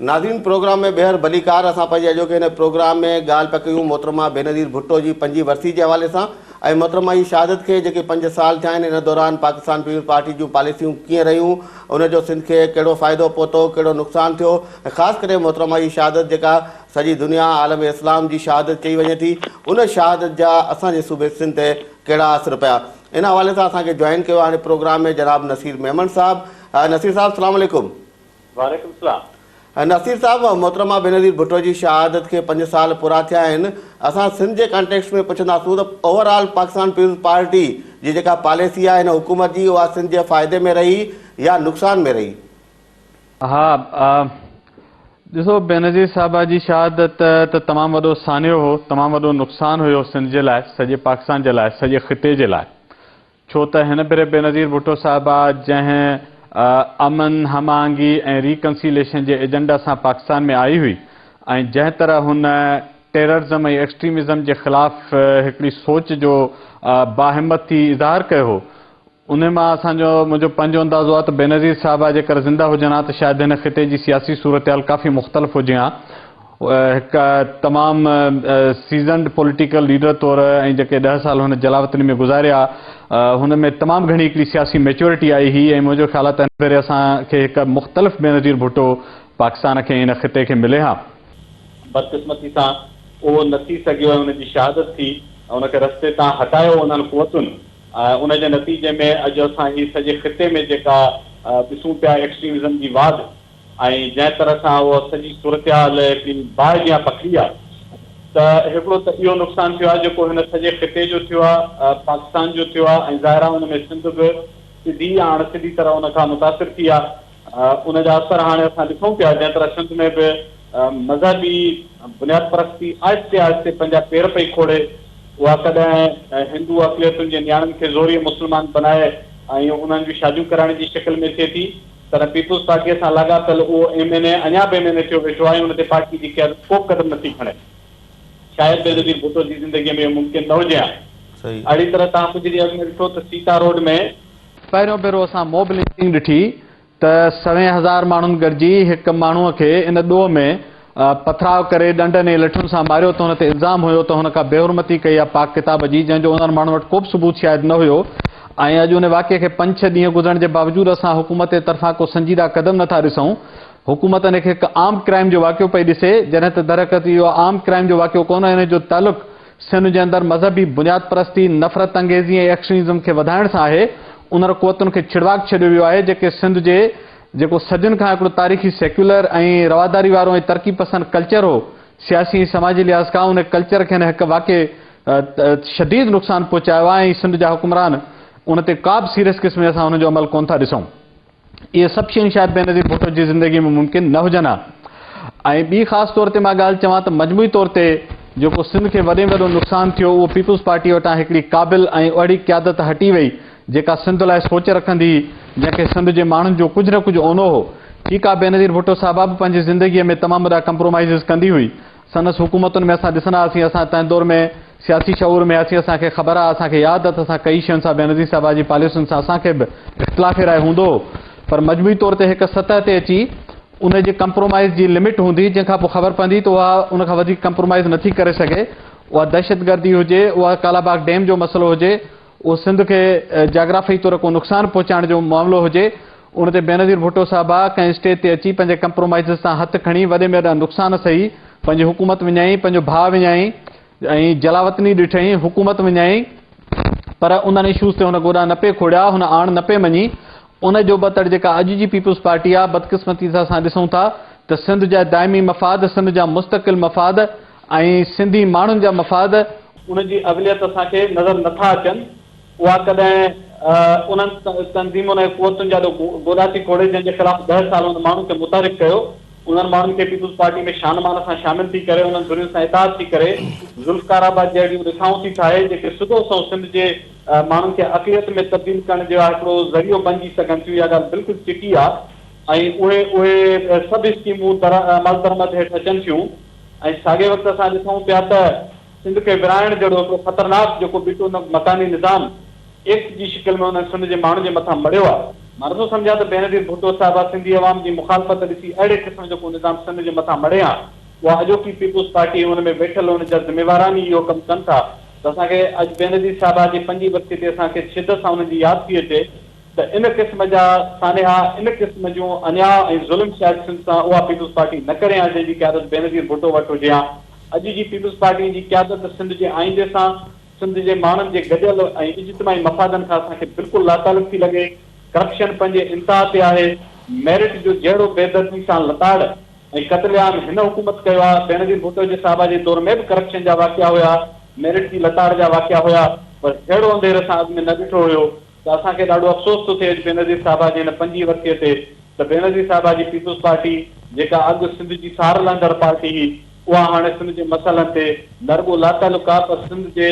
ناظرين پروگرام ۾ ٻيهر ڀليڪار اسان پنهنجي اڄوڪي هن پروگرام ۾ ڳالهه پيا ڪيون محترمه بينظير ڀٽو جي پنجين ورسي جي حوالي سان ۽ محترمه جي شهادت کي جيڪي پنج سال ٿيا آهن ان دوران پاڪستان پيپلز پارٽي جون پاليسيون ڪيئن رهيون ان جو سنڌ کي ڪهڙو فائدو پهتو ڪهڙو نقصان ٿيو ۽ خاص ڪري محترمه جي شهادت جيڪا سڄي دنيا عالم اسلام جي شهادت چئي وڃي ٿي ان شهادت جا اسان جي صوبي سنڌ تي ڪهڙا اثر پيا ان حوالي سان اسان کي جوائن ڪيو آهي پروگرام ۾ جناب نصير ميمڻ صاحب نصير صاحب سلام عليڪم. وعليڪم السلام. نصير صاحب محترمه بينظير ڀٽو جي شهادت کي پنج سال پورا ٿيا آهن اسان سنڌ جي ڪانٽيڪسٽ ۾ پڇنداسون ته over all Pakistan Peoples Party جي جيڪا پاليسي آهي هن حڪومت جي اها سنڌ جي فائدي ۾ رهي يا نقصان ۾ رهي؟ ها ڏسو بينظير صاحبه جي شهادت ته تمام وڏو سانحو هو، تمام وڏو نقصان هيو سنڌ جي لاء، سڄي پاڪستان جي لاء، سڄي خطي جي لاء. ڇو ته هن ڀيري بينظير ڀٽو صاحبه جنهن امن، هم آهنگي ۽ ري ڪنسيليشن جي ايجنڊا سان پاڪستان ۾ آئي هئي ۽ جنهن طرح هن ٽيررزم ۽ ايڪسٽريمزم جي خلاف هڪڙي سوچ جو باهمت ٿي اظهار ڪيو هو، انهيء مان اسان جو، منهنجو پنهنجو اندازو آهي ته بينظير صاحب آء جيڪر زنده هجن ها ته شايد هن خطي جي سياسي صورتحال ڪافي مختلف هجي ها. هڪ تمام سيزنڊ پوليٽيڪل ليڊر طور ۽ جيڪي ڏهه سال هن جلاوطني ۾ گذاريا، هن ۾ تمام گهڻي هڪڙي سياسي ميچيورٽي آئي هئي ۽ منهنجو خيال آهي ته هن ڀيري اسان کي هڪ مختلف بينظير ڀٽو پاڪستان کي ۽ هن خطي کي ملي ها. بدقسمتي سان اهو نه ٿي سگهيو ۽ ان جي شهادت ٿي ۽ ان کي رستي تان هٽايو انهن قوتن. ان جي نتيجي ۾ اڄ اسان هي سڄي خطي ۾ جيڪا ڏسون پيا ايڪسٽريمزم جي واڌ ۽ جنهن طرح سان اها سڄي صورتحال هڪڙي باهه جيان پکڙي آهي ته هڪڙو ته اهو نقصان ٿيو آهي جيڪو هن سڄي خطي جو ٿيو آهي، پاڪستان جو ٿيو آهي ۽ ظاهر آهي ان ۾ سنڌ به سڌي يا اڻ سڌي طرح ان کان متاثر ٿي آهي. ان جا اثر هاڻي اسان ڏسون پيا، جنهن طرح سنڌ ۾ به مذهبي بنياد پرستي آهستي آهستي پنهنجا پير پئي کوڙي، اها ڪڏهن هندو اقليتن جي نياڻين کي زوريء مسلمان بنائي ۽ انهن جون شاديون ڪرائڻ جي شڪل ۾ ٿئي ٿي، تڏهن پيپلز پارٽيء سان لاڳاپيل اهو ايم اين اي اڃا به ايم اين اي ٿيو ويٺو آهي، ان تي پارٽيء جي قيادت ڪوبه قدم نٿي کڻي. شايد بينظير ڀٽو جي زندگيء ۾ اهو ممڪن نه هجي ها. اهڙي طرح توهان ڪجهه ڏينهن اڳ ۾ ڏٺو ته سيتا روڊ ۾ پهريون ڀيرو اسان موب لنچنگ ڏٺي ته سوين هزار ماڻهن گڏجي هڪ ماڻهو کي ان ڏوهه ۾ پٿراء ڪري ڏنڊن ۽ لٺن سان ماريو ته هن تي الزام هيو ته هن ڪا بيحرمتي ڪئي آهي پاڪ ڪتاب جي جنهن جو انهن ماڻهن وٽ ڪوبه ثبوت شايد نه هيو ۽ اڄ ان واقعي کي پنج ڇهه ڏينهن گذرڻ جي باوجود اسان حڪومت جي طرفان ڪو سنجيده قدم نٿا ڏسون حڪومت ان کي هڪ آرمڊ ڪرائيم جو واقعو پئي ڏسي جڏهن ته درحقيقت اهو آرمڊ ڪرائيم جو واقعو ڪونه انهن جو تعلق سنڌ جي اندر مذهبي بنياد پرستي، نفرت انگيزي ۽ ايڪسٽريمزم کي وڌائڻ سان آهي، انهن قوتن کي ڇڙواڳ ڇڏيو ويو آهي، جيڪي سنڌ جي جيڪو صدين کان هڪڙو تاريخي سيڪيولر ۽ رواداري وارو ۽ ترقي پسند ڪلچر هو، سياسي ۽ سماجي لحاظ کان ان ڪلچر کي هن هڪ واقعي شديد نقصان پهچايو آهي ۽ سنڌ جا حڪمران ان تي ڪابه سيريس قسم جي اسان انهن جو عمل ڪونه ٿا ڏسون. اهي سڀ شيون شايد بينظير ڀٽو جي زندگيء ۾ ممڪن نه هجن ها ۽ ٻي خاص طور تي مان ڳالهه چوان ته مجموعي طور تي جيڪو سنڌ کي وڏي ۾ وڏو نقصان ٿيو اهو پيپلز پارٽيء وٽان هڪڙي قابل ۽ اهڙي قيادت هٽي وئي جيڪا سنڌ لاء سوچ رکندي هئي جنهن کي سنڌ جي ماڻهن جو ڪجهه نه ڪجهه اونو هو ٺيڪ آهي بينظير ڀٽو صاحبه به پنهنجي زندگيء ۾ تمام وڏا ڪمپرومائيزز ڪندي هئي سندس حڪومتن ۾ اسان ڏسندا هئاسين اسان تنهن دور ۾ سياسي شعور ۾ هئاسين اسان کي خبر آ اسان کي ياد اٿ اسان ڪئي شين سان بينظير صاحبه جي پاليسين سان اسان کي به اختلاف راء هوندو هو پر مجموعي طور تي هڪ سطح تي اچي ان جي ڪمپرومائيز جي لمٽ هوندي جنهن کان پوء خبر پوندي ته اها ان کان وڌيڪ ڪمپرومائيز نٿي ڪري سگهي اها دهشتگردي هجي اها ڪالاباغ ڊيم جو مسئلو هجي اهو سنڌ کي جاگرافيائي طور ڪو نقصان پهچائڻ جو معاملو هجي ان تي بينظير ڀٽو صاحب آ ڪنهن اسٽيج تي اچي پنهنجي ڪمپرومائيزز تان هٿ کڻي وڏي ۾ وڏا نقصان سهي پنهنجي حڪومت وڃائين پنهنجو ڀاء وڃائين ۽ جلاوطني ڏٺائين حڪومت وڃائين پر انهن اشوز تي هن گوڏا نه پئي کوڙيا هن آڻ نه پئي مڃي ان جو ٻتڙ جيڪا اڄ جي پيپلز پارٽي آ بدقسمتي سان اسان ڏسون ٿا ته سنڌ جا دائمي مفاد سنڌ جا مستقل مفاد ۽ سنڌي ماڻهن جا مفاد. ان جي اوليت اسان کي نظر نه ٿا اچن، اها ڪڏهن انهن تنظيمن ۽ قوتن جي آڏو گوڏا ٿي کوڙي، جن جي خلاف ڏهه سال انهن ماڻهن کي متحرڪ ڪيو، انهن ماڻهن کي پيپلز پارٽي ۾ شان مان سان شامل ٿي ڪري، انهن ڌرين سان اتحاد ٿي ڪري، ذوالفقار آباد جهڙيون رٿائون ٿي ٺاهي، جيڪي سڌو سنئون سنڌ جي ماڻهن کي اقليت ۾ تبديل ڪرڻ جي لاء هڪڙو ذريعو بنجي سگهن ٿيون، اها ڳالهه بلڪل چٽي آهي ۽ اهي اهي سڀ اسڪيمون عملدرمد هيٺ اچن ٿيون. ۽ ساڳئي وقت اسان ڏسون پيا ته سنڌ کي ورهائڻ جهڙو هڪڙو خطرناڪ جيڪو بيٽو مڪاني نظام ايڪٽ جي شڪل ۾ انهن سنڌ جي ماڻهن جي مٿان مڙهيو آهي. مان نٿو سمجهان ته بينظير ڀٽو صاحبه سنڌي عوام جي مخالفت ڏسي اهڙي قسم جو ڪو نظام سنڌ جي مٿان مڙهي هان اها اڄوڪي پيپلز پارٽي ۽ ان ۾ ويٺل ان جا ذميواران ئي اهو ڪم ڪن ٿا ته اسان کي اڄ بينظير صاحبه جي پنجين ورسي تي اسان کي شدت سان انهن جي ياد ٿي اچي ته ان قسم جا سانحا، ان قسم جون انياء ۽ ظلم سياستين سان اها پيپلز پارٽي نه ڪري ها جنهن جي قيادت بينظير ڀٽو وٽ هجي ها. اڄ جي پيپلز پارٽي جي قيادت سنڌ جي آئيندي سان، سنڌ جي ماڻهن جي گڏيل ۽ اجتماعي مفادن کان اسان کي بلڪل لاتعلق ٿي لڳي. ڪرپشن پنهنجي انتها تي آهي. ميرٽ جو جهڙو بيدردي سان لتاڙ ۽ قتل عام هن حڪومت ڪيو آهي، بينظير ڀٽو جي صاحبه جي دور ۾ به ڪرپشن جا واقعا هيا، ميرٽ جي لتاڙ جا واقعا هيا، پر جهڙو انڌير اسان اڳ ۾ نه ڏٺو هيو، ته اسان کي ڏاڍو افسوس ٿو ٿئي اڄ بينظير صاحبه جي ان پنجي ورسيء تي ته بينظير صاحبه جي پيپلز پارٽي جيڪا اڳ سنڌ جي سار لهندڙ پارٽي هئي اها هاڻي سنڌ جي مسئلن تي نه رڳو لاتعلق آهي پر سنڌ جي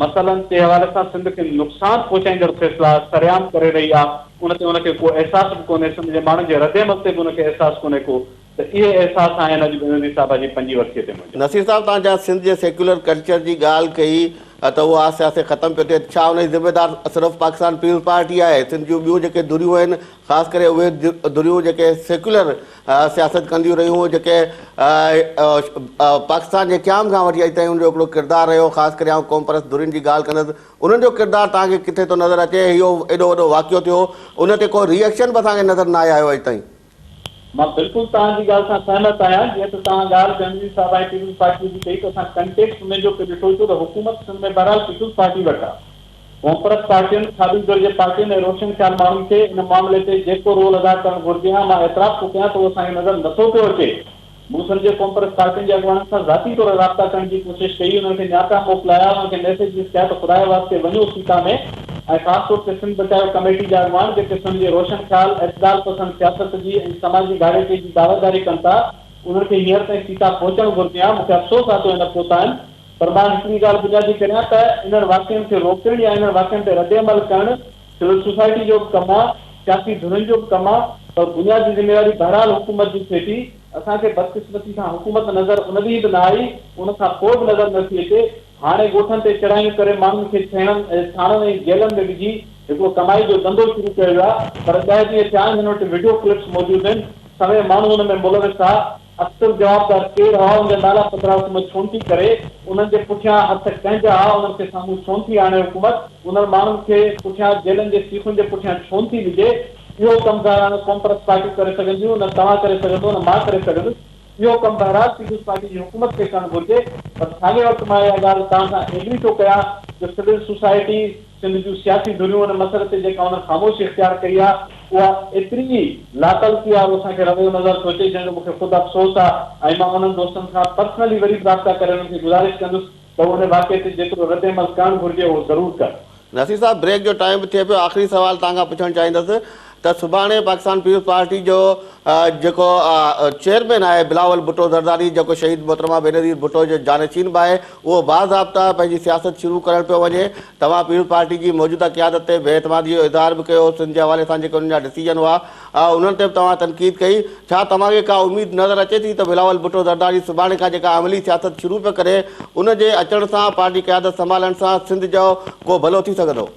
مسئلن تي حوالي سان سنڌ کي نقصان پهچائيندڙ فيصلا سرعام ڪري رهي آهي ان تي ان کي ڪو احساس به ڪونهي سنڌ جي ماڻهن جي ردعمل تي به ان کي احساس ڪونهي ڪو ته اهي احساس آهن اڄ به نصير صاحب جي پنجين ورسيء تي منهنجا. نصير صاحب توهان جيان سنڌ جي سيڪيولر ڪلچر جي ڳالهه ڪئي ته اهو آهستي آهستي ختم پيو ٿئي ڇا ان جي ذميدار صرف پاڪستان پيپلز پارٽي آهي سنڌ جون ٻيون جيڪي ڌريون آهن خاص ڪري اهي ڌريون جيڪي سيڪيولر سياست ڪنديون رهيون جيڪي پاڪستان جي قيام کان وٺي اڄ تائين ان جو هڪڙو ڪردار رهيو خاص ڪري آئون قومپرست ڌرين جي ڳالهه ڪندس انهن جو ڪردار توهان کي ڪٿي ٿو نظر اچي اهو ايڏو وڏو واقعو ٿيو ان تي ڪو ري ايڪشن به اسان کي نظر ناهي آيو اڄ تائين. مان بلڪل توهان جي ڳالهه سان سهمت آهيان جيئن ته توهان ڳالهه جهنگلي صاحب ۽ پيپلز پارٽيء جي ڪئي ته اسان ڪنٽيڪسٽ ۾ جو ڪي ڏٺو ڇو ته حڪومت سنڌ ۾ بهرحال پيپلز پارٽي وٽ آ ڪونپرت پارٽين کاٻي ڌر جي پارٽين ۽ روشن خيال ماڻهن کي ان معاملي تي جيڪو رول ادا ڪرڻ گهرجي ها مان اعتراف ٿو ڪيان ته اهو اسان کي نظر نٿو پيو اچي مون سمجهي قومپرست پارٽين جي اڳواڻن سان ذاتي طور رابطا ڪرڻ جي ڪوشش ڪئي، انهن کي نياپا موڪلايا، انهن کي ميسيجز ڪيا ته خدا جي واسطي وڃو سيتا ۾ ۽ خاص طور تي سنڌ بچايو ڪميٽي جا اڳواڻ جيڪي سنڌ جي روشن خيال، اعتدال پسند سياست جي ۽ سماجي ڀاڙيڪي جي دعويداري ڪن ٿا، انهن کي هينئر تائين سيتا پهچڻ گهرجي ها، مون کي افسوس آهي ته اهي نه پهتا آهن پر مان هڪڙي ڳالهه بنيادي ڪريان ته انهن واقعن کي روڪڻ يا انهن واقعن تي ردعمل ڪرڻ سول سوسائٽي جو ڪم آ، سياسي ڌرين جو به ڪم آ پر بنيادي ذميواري بهرحال حڪومت جي ٿئي ٿي، اسان کي بدقسمتي سان حڪومت نظر ان ڏينهن به نه آئي، ان کان پوء به نظر نه ٿي اچي، هاڻي ڳوٺن تي چڙهايون ڪري ماڻهن کي ڇيڻن، ٿاڻن ۽ جيلن ۾ وجهي هڪڙو ڪمائي جو ڌنڌو شروع ڪيو ويو آ پر ڏهه ڏينهن ٿيا آهن هن وٽ وڊيو ڪلپس موجود آهن، سوين ماڻهو ان ۾ ملوث آ، اڪثر جوابدار ڪير هئا، ان جا نالا پڌرا حڪومت ڇونه ٿي ڪري، انهن جي پٺيان هٿ ڪنهن جا هئا، انهن کي سامهون ڇونه ٿي آڻي حڪومت، انهن ماڻهن کي پٺيان جيلن جي سيخن جي پٺيان ڇونه ٿي وجهي، اهو ڪم ظاهرا نه قومپرست پارٽيون ڪري سگهنديون، نه توهان ڪري سگهندو، نه مان ڪري سگهندس، اهو ڪم بهرحال پيپلز پارٽي جي حڪومت کي ڪرڻ گهرجي، پر ساڳئي وقت مان اها ڳالهه توهان سان ايگري ٿو ڪيان جو سول سوسائٽي، سنڌ جون سياسي ڌريون ان مسئلي تي جيڪا انهن خاموشي اختيار ڪئي آ، اها ايتري ئي لاتعلقي وارو اسان کي رويو نظر ٿو اچي، جنهن جو مون کي خود افسوس آ ۽ مان انهن دوستن کان پرسنلي وري به رابطا ڪري انهن کي گذارش ڪندس ته هو ان واقعي تي جيترو رد عمل ڪرڻ گهرجي اهو ضرور ڪن. نصير صاحب، بريڪ جو ٽائيم به ٿئي پيو، آخري سوال توهان کان پڇڻ چاهيندس، ته سڀاڻي پاڪستان پيپلز پارٽي جو جيڪو چيئرمين آهي بلاول ڀٽو زرداري جيڪو شهيد محترمه بينظير ڀٽو جو جانشين به آهي اهو باضابطه پنهنجي سياست شروع ڪرڻ پيو وڃي توهان پيپلز پارٽي جي موجوده قيادت تي بي اعتمادي جو اظهار به ڪيو سنڌ جي حوالي سان جيڪي انهن جا ڊسيزن هئا انهن تي به توهان تنقيد ڪئي ڇا توهان کي ڪا اميد نظر اچي ٿي ته بلاول ڀٽو زرداري سڀاڻي کان جيڪا عملي سياست شروع پيو ڪري ان جي اچڻ سان پارٽي قيادت سنڀالڻ سان سنڌ جو ڪو ڀلو ٿي سگهندو؟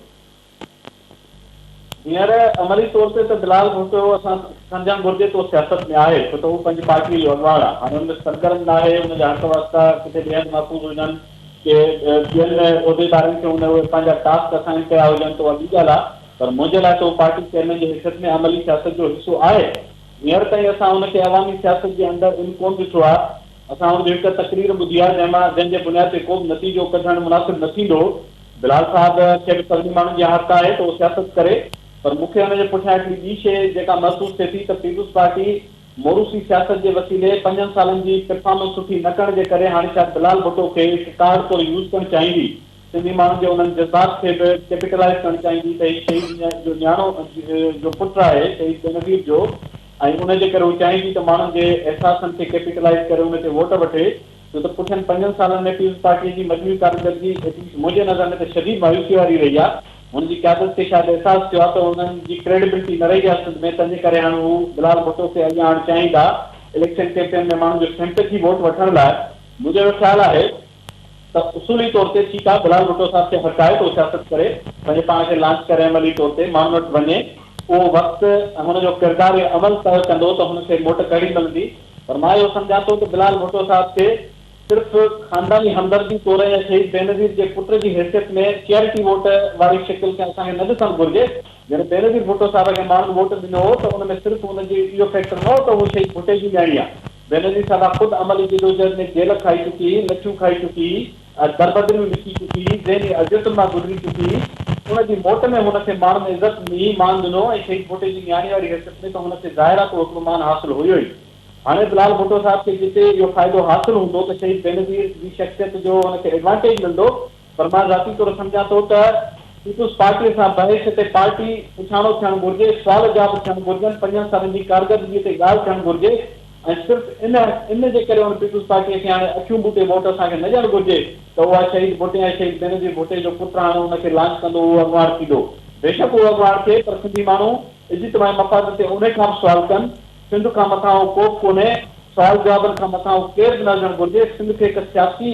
هينئر عملي طور تي ته بلال ڀٽو اسان سمجهڻ گهرجي ته اهو سياست ۾ آهي ڇو ته هو پنهنجي پارٽيء جو اڳواڻ آهي هاڻي ان ۾ سرگرم ناهي ان جا حق واسطا ڪٿي ٻئي هنڌ محفوظ هجن ڪي ٻين عهديدارن کي ان اهي پنهنجا ٽاسڪ اسائن ڪيا هجن ته اها ٻي ڳالهه آهي پر منهنجي لاء ته هو پارٽي چيئرمين جي حيثيت ۾ عملي سياست جو حصو آهي هينئر تائين اسان هن کي عوامي سياست جي اندر ان ڪون ڏٺو آهي اسان هن جي هڪ تقرير ٻڌي آهي جنهن مان جنهن جي بنياد تي ڪو به نتيجو ڪڍڻ مناسب نه ٿيندو بلال صاحب کي به سرندي ماڻهن جي عادت آهي ته هو سياست ڪري پر مون کي ان جي پٺيان هڪڙي ٻي شيء جيڪا محسوس ٿئي ٿي ته پيپلز پارٽي موروثي سياست جي وسيلي پنجن سالن جي پرفارمنس سٺي نه ڪرڻ جي ڪري هاڻي شايد بلال ڀٽو کي هڪ ڪارڊ طور يوز ڪرڻ چاهيندي سنڌي ماڻهن جي انهن جذبات کي به ڪيپيٽلائيز ڪرڻ چاهيندي ته هي شهيد جو نياڻو جو پٽ آهي شهيد بينظير جو ۽ ان جي ڪري هو چاهيندي ته ماڻهن جي احساسن کي ڪيپيٽلائيز ڪري ان تي ووٽ وٺي ڇو ته پٺين پنجن سالن ۾ پيپلز پارٽيء جي مجموعي ڪارڪردگي ايٽ ليسٽ منهنجي نظر ۾ ته شديد مايوسيء واري رهي آ. هن جي قيادت کي شايد احساس ٿيو آ ته انهن جي ڪريڊبلٽي نه رهي آ سنڌ ۾، تنهنجي ڪري هاڻ هو بلال ڀٽو کي اڳيان آڻڻ چاهين ٿا، اليڪشن ڪيمپين ۾ ماڻهن جو سيمپيٿي ووٽ وٺڻ لاء. منهنجو اهڙو خيال آهي ته اصولي طور تي ٺيڪ آ، بلال ڀٽو صاحب کي حق آهي ته هو سياست ڪري، پنهنجي پاڻ کي لانچ ڪري عملي طور تي ماڻهن وٽ وڃي، اهو وقت ۽ هن جو ڪردار عمل طئه ڪندو ته هن کي موٽ ڪهڙي ملندي. فرمايو، سمجهان ٿو ته بلال ڀٽو صاحب کي صرف خانداني همدردي طور ۽ شهيد بينظير جي پٽ جي حيثيت ۾ چيئرٽي ووٽ واري شڪل ۾ اسان کي نه ڏسڻ گهرجي. جڏهن بينظير ڀٽو صاحب کي ماڻهن ووٽ ڏنو هو ته ان ۾ صرف ان جي اهو فيڪٽر نه هو ته هو شهيد ڀٽي جي نياڻي آهي. بينظير صاحبه خود عملي جدوجهد ۾ جيل کائي چڪي هئي، لڇون کائي چڪي هئي، دربدري ۾ وڪي چڪي هئي، ذهني اذيتن مان گذري چڪي هئي. ان جي موٽ ۾ هن کي ماڻهن عزت ۾ مان ڏنو ۽ شهيد ڀٽي جي نياڻي واري حيثيت ۾ ته هن کي ظاهرا ڪو هڪڙو مان حاصل هيو ئي. هاڻي به لال ڀٽو صاحب کي جتي اهو فائدو حاصل هوندو ته شهيد بينظير جي شخصيت جو هن کي ايڊوانٽيج ملندو پر مان ذاتي طور سمجهان ٿو ته پيپلز پارٽيء سان بحث تي پارٽي پڇاڻو ٿيڻ گهرجي، سوال جواب ٿيڻ گهرجن، پنجن سالن جي ڪارگردگيء تي ڳالهه ٿيڻ گهرجي، ۽ صرف ان ان جي ڪري ان پيپلز پارٽيء کي هاڻي اکيون ٻوٽي ووٽ اسان کي نه ڏيڻ گهرجي ته اها شهيد ڀٽي ۽ شهيد بينظير ڀٽي جو پٽ هاڻي ان کي لانچ ڪندو اهو اڳواڻ ٿيندو بيشڪ اهو اڳواڻ ٿئي پر سنڌي ماڻهو اجتماعي مفاد تي انهي کان به سوال ڪن سنڌ کان مٿان اهو ڪوبه ڪونهي سوال جوابن کان مٿان اهو ڪير به نه هجڻ گهرجي سنڌ کي هڪ سياسي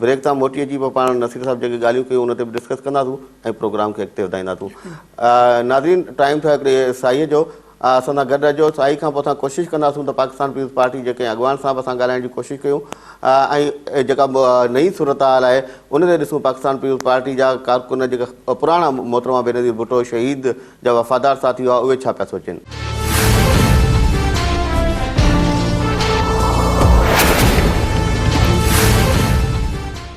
بريڪ تان موٽي اچي پوء پاڻ نصير صاحب جيڪي ڳالهيون ڪيون ان تي به ڊسڪس ڪنداسون ۽ پروگرام کي اڳتي وڌائينداسون. ناظرين ٽائيم ٿيو آهي هڪڙي سائيء جو اسان سان گڏ رهجو سائي کان پوء اسان ڪوشش ڪنداسون ته پاڪستان پيپلز پارٽي جي ڪنهن اڳواڻ سان به اسان ڳالهائڻ جي ڪوشش ڪيون ۽ جيڪا نئين صورتحال آهي ان تي ڏسون پاڪستان پيپلز پارٽي جا ڪارڪن جيڪا پراڻا محترمه بينظير ڀٽو شهيد جا وفادار ساٿي هئا، اهي ڇا پيا سوچين؟